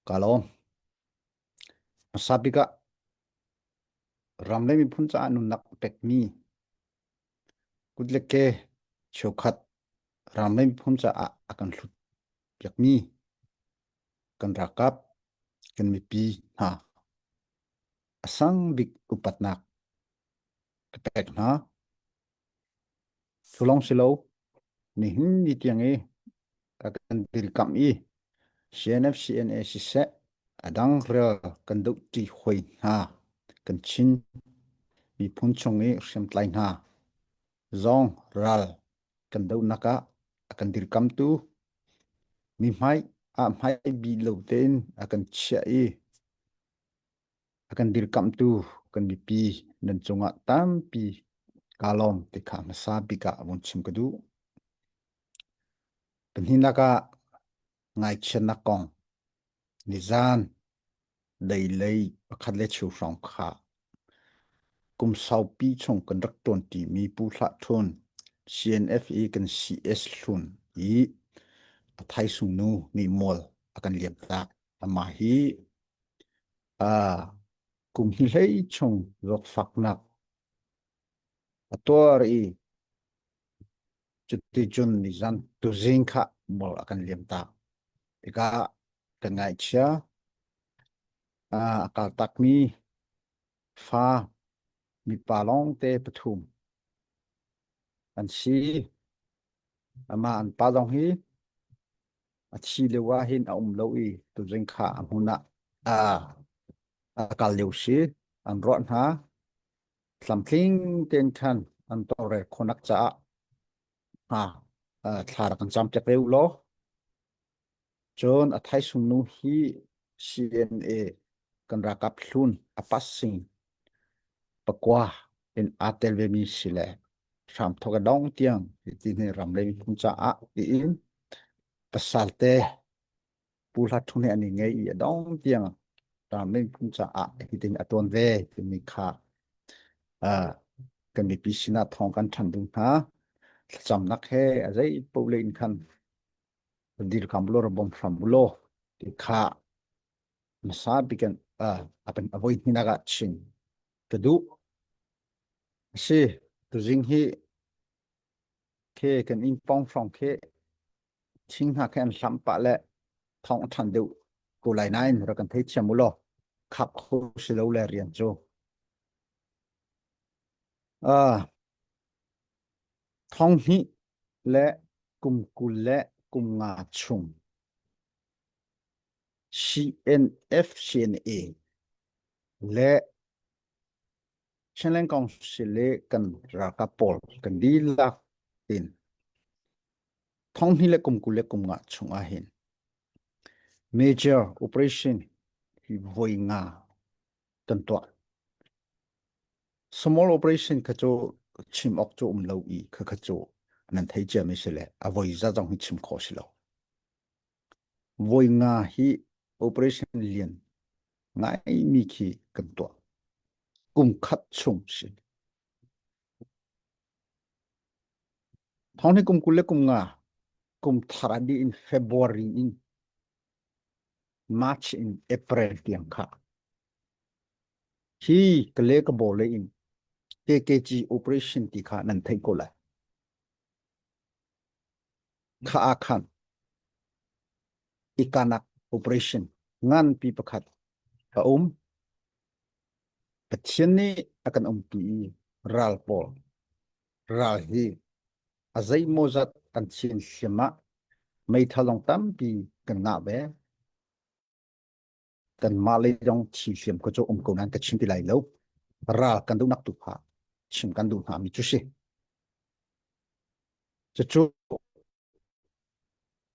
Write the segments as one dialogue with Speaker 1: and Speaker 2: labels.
Speaker 1: ka lawm masabik ah ram le miphun caah nunnak pekmi kut le ke cheukhat ram le miphun caah a kan hlut piakmi kan rakap kan mipi hna a sang bik upatnak ka pek hna Sulong si lo. Nihin ni tiang i ka kan dirkamh i CNF CNA siseh adang rel kan do ṭi hoi hna kan chin miphun chung i hriamtlai hna zong ral kan donak ah a kan dirkamtu mi hmai ah hmai bi lo tein a kan chiah i a kan dirkamhtu kan mipi nan cungah tampi kaa lawm ti kha hmasa bik ah vun chim ka duh. Pahnihnak ah ngaichiatnak kong nizan dei lei pakhat le chiu hrawng kha kum saupi chung kan rak ṭuanṭi mi pu hlah ṭhun CNFE kan CS hlun i a thaisung nu nih mual a kan liam tak. Amah hi aa kum hlei chung zawtfaknak a tuar i cuticun nizan tuzing kha bol a kan liamtak. Tikah kan ngaihchia a kaltakmi fa mipa lawngte pathum an si. Amah an pa zong hi A thi lio ah hin a um lo i tuzing kha a hmun ah a, a kal lio si an ruah hna tlamtling ten khan an tore khonak caah ha thla rak an cam te pe lo cun a thai sung nu hi CNA kan rakap hlun a passing pakua in aa tel vemi si le hramthok a dong tiang ti ni ram le phun caah tiin pasal te pu hla thung an i ngei i a dong tiang ram le phun caah hitin a tuan ve timi kha kan mipi sinah thawng kan than ding hna thlacamnak he a zei pole in khan dil kam lo ra bom hram bulo ti kha hmasa bikan apan avoi hninak ah chin ka duh asi tuzing hi ke kan in pong phong ke thing hna ke an hlam pa le thong than deu ko lai nain ra kan thei thiam ulo khap kho silo le rian chu ah thong hi le kum kul le kum nga chung CNF CNA le Chinland Council le kan ralkap pawl kan dihlak tin thonghni le kum kul le kum nga chung ah hin major operation hi voi nga kan tuah small operation kha chu chim ok chu um lo i kha kha chu nan thei cia mi si le a voi za zong hi chim kho si lo Voi nga hi operation lian ngaimi khi kan tuah. Kum khat chung si. Thawni kum kul le kum nga kum thar di in February in March in April tiang kha. Hi ka le ka bole in KKG operation ti kha nan thei ko lai. kha aa khan ikanak operation nganpi pakhat a um Pathian nih a kan umpi ral pawl ral hi a zeimaw zat an thin hliam ah meitha long tampi kan ngah ve kanmah lei zong thi hliam ko cu um ko nan ka chim ti lai lo ral kan duh nak tu pha chim kan duh hna mi chu si cucu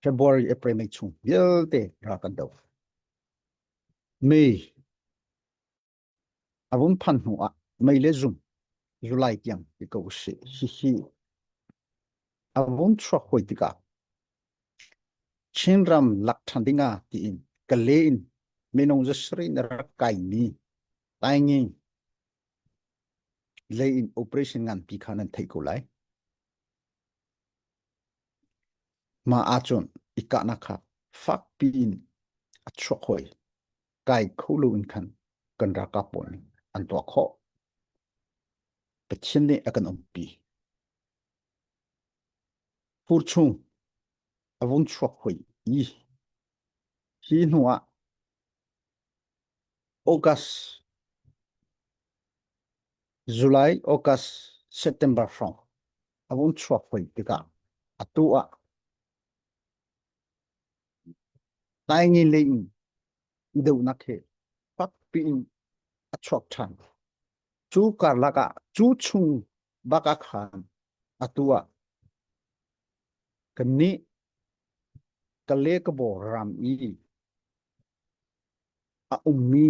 Speaker 1: February April May chung vialte ra kan do May A run phan hnu ah mei le zum zulai tiang i ko usih. Hihi a run chuak hoi tikah Chinram lak than ding ah tiin kale in minung zasri na rak kai mi taingi lei in operation ngan pi kha nan thei ko lai. Ma ahcun ikahnak kha fakpi in a chuak hoi. kai kho lo in khan kan raka pawl nih an tuah khawh Pathian nih a kan umpi fur chung a vung chuak hoi i hi hnu ah August July August September hrawng a vung chuak hoi tikah atu ah tai nge le in donak he fak piin a chuak ṭhan cu karlak ah cu chung baka khan atu ah kan nih ka le ka bo ram i a ummi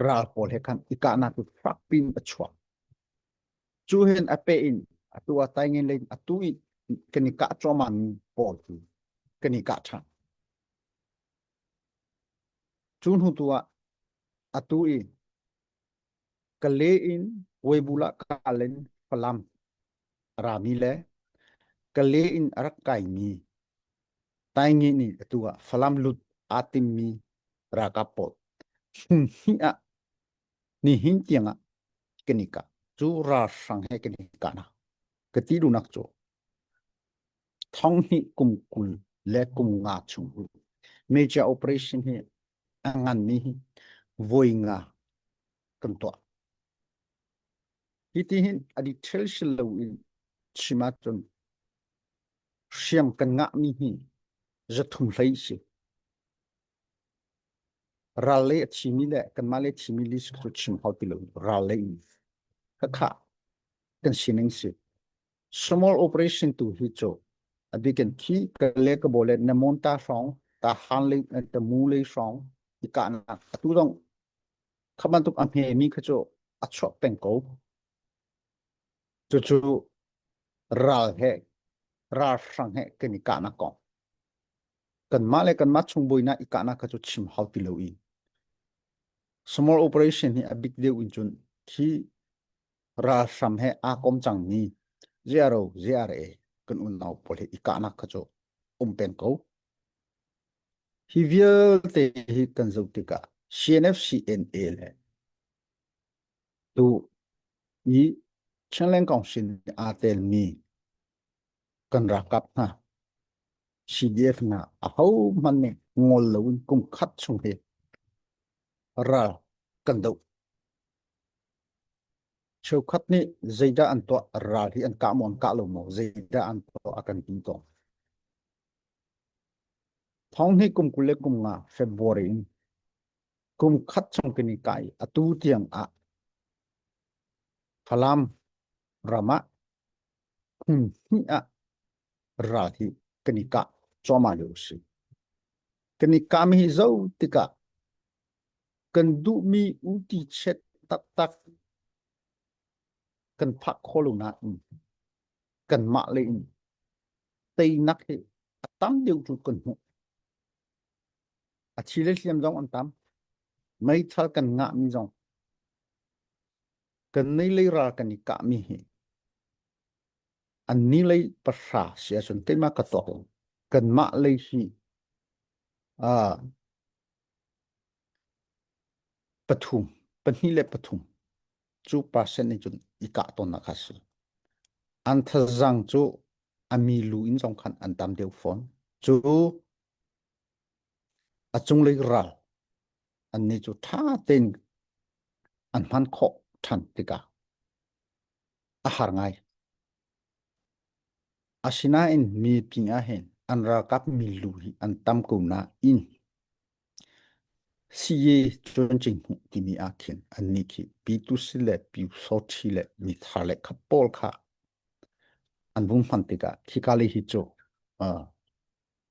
Speaker 1: ral pawl he khan i kahnak cu fak piin a chuak Cu hen a pe in atu a tai ngen le atu i kan i kah chuaman pawl cu kan i kah than. Cu hnu tu ah atu i ka le in weibula ka len falam rami le ka le in a rak kai mi tai nge ni atu ah falam lut aa tim mi raka pawl hi ah Nihin tiangah kan i kah cu ralhrang he kan i kahnak ka ti lunak cu thong hnih kum kul le kum nga chung major operation hi a nganmi hi voi nga kan tuah hiti hin a detail si lo in chim ahcun hriam kan ngahmi hi zathum hlei si Ral le a thimi le kanmah le a thimi li cu chim hau ti lo. Ral le in khakha kan sining si. Small operation tu hi cho abikin thi ka le ka bole na mon ta hrong ta han le ta mu le hrong i ka na atu dong khaman tuk a hme mi kha cho a chok peng ko chu chu ral he ral hrang he kan i ka na kong kanmah le kanmah chung buainak i kahnak kha cu chim hau ti lo i small operation hi a bik deuh in cun khi ralhram he aa kom cangmi ziaro ZRA kan unau pawl he i kahnak kha cu um peng ko hi vialte hi kan zoh tikah CNFCNA le tu i Chinland Council nih aa telmi kan rakap hna CDF na ahohmanh nih ngol loin kum khat chung hi ral kan do cheukhat nih zeidah an tuah ral hi an kah maw an kah lo maw zeidah an tuah a kan ti ko thong hi kum kul le kum nga February in kum khat chung kini kai atu tiang ah Falam ramah Kum hnih ah ral hi kan i kah cuahmah lio a si. Kan i kah mi hi zo tikah kan duhmi uti chiat taktak kan phak khawh lo nain kanmah le in teinak hi a tam deuh cu kan hmuh. A thi le hliam zong an tam. Meithal kan ngah mi zong kan nei lei ra kan i kah mi hi an ni lei pahra si ahcun keimah ka tuak lo kanmah lei hi uh, pathum pahnih le pathum cu percent nih cun i kah tawnnak kha si an thazang cu a mi lu in zong khan an tam deuh fawn cu A cunglei ral annih cu ṭha tein an hman khawh ṭhan tikah a har ngai. Asinain mi pingah hin an ralkap mi lu hi an tam ko nain siye cuancing hmuh timi ah khin annih khi Pitus le Piusothi le mithar le kha pawl kha an vung hman tikah khika lei hi cu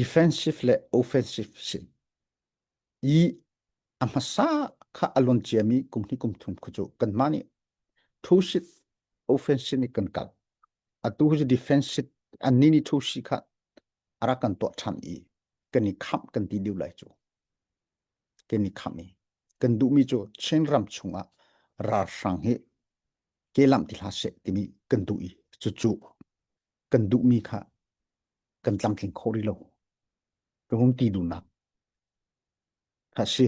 Speaker 1: Defensive le offensive sin i a hmasa kha a lon ciami kum hnih kum thum khu cu kanmah nih two seat offensive nih kan kal. Atu hi cu defensive anni nih two seat kha a rak kan tuah ṭhan i kan i khamh kan ti lio lai cu. Kan i khamh i kan duhmi cu Chin ram chungah ralhrang hi ke lamh ti hlah seh timi kan duh i cucu kan duhmi kha kan tlamtling khawh rih lo ka hung ti duhnak a si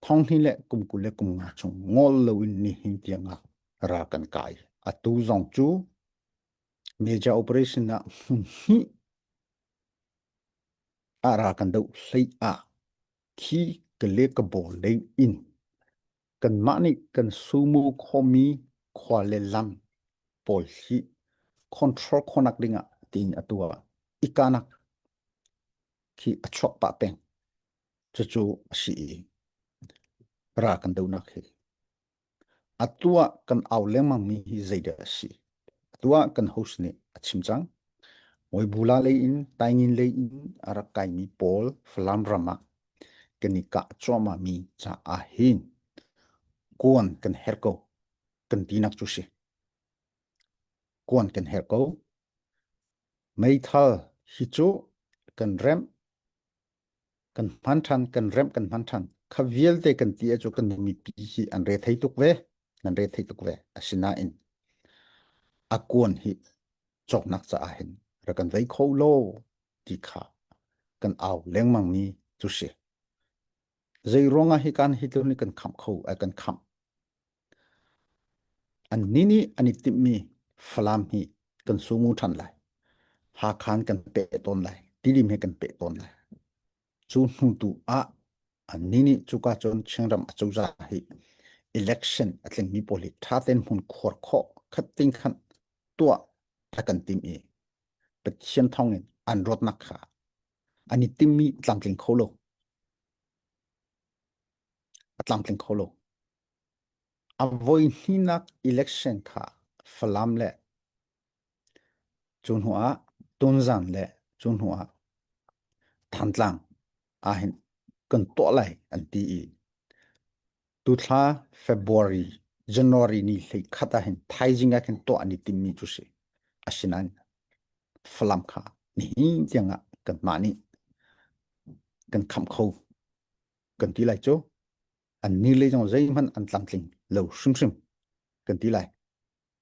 Speaker 1: thong hni le kum kul le kum nga chung ngol loin nihin tiangah ra kan kai atu zong cu major operation ah hi ara kan do hlei a khi ka le ka bol le in Kanmah nih kan sumu khawmi khua le lang pawl hi control khonak dingah tiin a tuah i kanak khi a chuak pah peng. Cucu a si i ra kan donak hi. A tuah kan au lengmangmi hi zeidah a si? A tuah kan host nih a chim cang. Oi bula lei in, taingin lei in a rak kaimi pawl Falam ram ah kan i kah cuahmahmi caah hin kuan kan herh ko kan tinak cu si kuan kan herh ko meithal hi cu kan rem kan hman than kan rem kan hman than kha vialte kan ti cu kan mipi hi an re thei tuk ve nan re thei tuk ve asinain a kuan hi cawknak caah hin rak kan vei kho lo ti kha kan au lengmang mi cu si zei ruangah hi kan hitler ni kan kham kho ai kan kham an ni ni an i timh mi falam hi kan sungu than lai ha khan kan pe ton lai tilim he kan pe ton lai cu hnu tu ah ni nih cuka cun Chinram a cozah hi election a tlingmi pawl hi thaten hmun khuar khawh khat ting khan tuah ta kan tim i Pathian thawng in an rotnak kha an i timmi tlamtling kho lo a tlamtling kho lo a voi hninak election kha Falam le Cu hnu ah tunzan le cu hnu ah Thantlang ahhin kan tuah lai an ti i tuthla February January ni hlei khat ahhin thaizing ah khin tuah an i timmi cu si. Asinain Falam kha nihin tiang ah kanmah nih kan khamh kho kan ti lai cu. An ni le zong zeihmanh an tlamtling lo hrimhrim kan ti lai.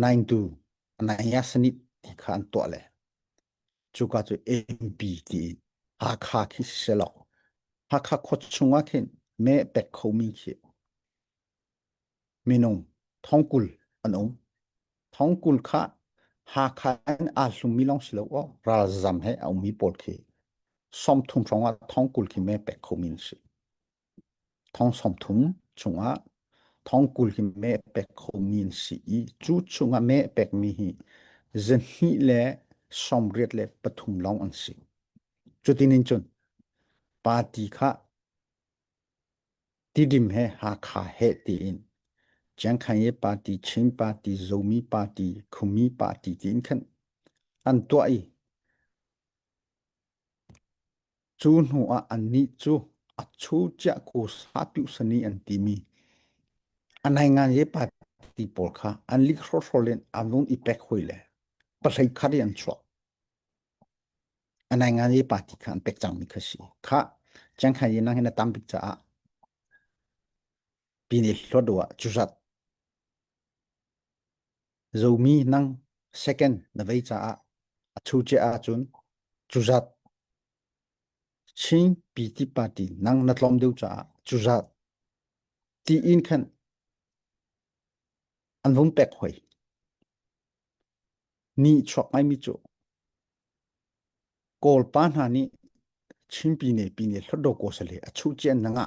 Speaker 1: Naingtu Ananias nih ti kha an tuah le cuka cu Empi ti i Hakha khi si selaw Hakha khua chungah khin mee pek khomi khi minung thongkul an um. Thongkul kha Hakha in aa hlummi lawng si lo aw ralzam he a ummi pawl khi sawmthum hrawngah thongkul khi mee pek khomi an si. Thong sawmthum chungah thong kul hi meh pek khomi an si i cu chungah meh pekmi hi zahnih le sawmriat le pathum lawng an si. Cutin in cun party kha tidim he Hakha he tiin Chiang Kai-e party, Chin party, Zomi party, Khumi party tiin khan an tuah i Cu hnu ah annih cu a chu ciah ku satuhsani an timi a naingange party pawl kha an lik hrawrhrawl in an vung i pek hoi le pahlei khat i an chuah. A naingange party kha an pek cangmi kha a si. Khah, Chiang Hai Yin nang hi na tam bik caah. Pini hlodua curat. Zomi nang second na vei caah a chu che ah cun cuzat. Chin PT party nang na tlom deuh caah cuzat. Ti in khan an vung pek hoi. Ni chuak ngai mi cu. Kawl pa hna nih Chin pine pine hlodo ko sale a chu chen nanga.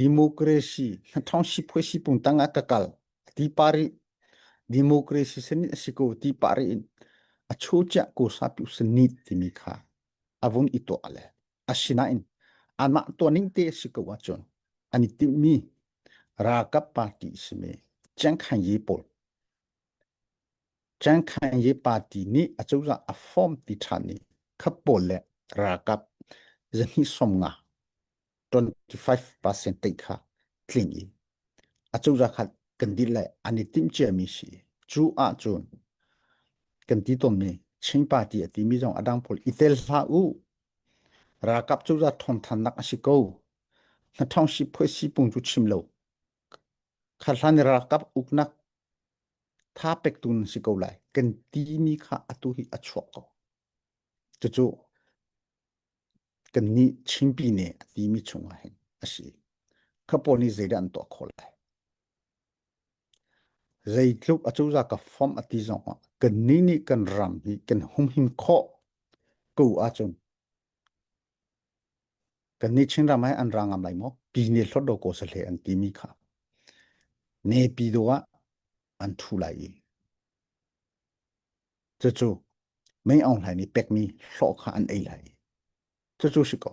Speaker 1: Democracy hnathawng sipuai sipung tang ah ka kal a ti pa rih. Democracy sanit a si ko ti pa rih in a cho chiah ko sa pi sanit timi kha a vun i to le asinain anmah to ning te si ko a chun ani tim mi ralkap party simi Chiang Kai ye pawl Chiang Kai ye party nih a cozah a form ti than ni khapawl le ralkap zani som nga 25% tei kha tling i a cura khat kan dit le an i timh ciami si cu ah cun kan ti tonmi Chin party a timi zong adang pol i tel hla u ralkap cura thon than nak a si ko na thong si phoi si pung chu chim lo kha hlan ralkap uknak tha pek tu si ko lai kan ti mi kha atu hi a chuak ko Cucu kannih Chinpi nih a timi chung ah hin a si. Kha pawl nih zeidah an tuah khawh lai? Zeitluk acozah ka fom a ti zong ah kannih nih kan ram hi kan humhim khawh ko ahcun kannih Chinram he an ra ngam lai maw? Pi ne hlot do ko sahle an timi kha ne pi do ah an thu lai i Cucu mei aung hlaimi pekmi hlawh kha an ei lai i cucu si ko.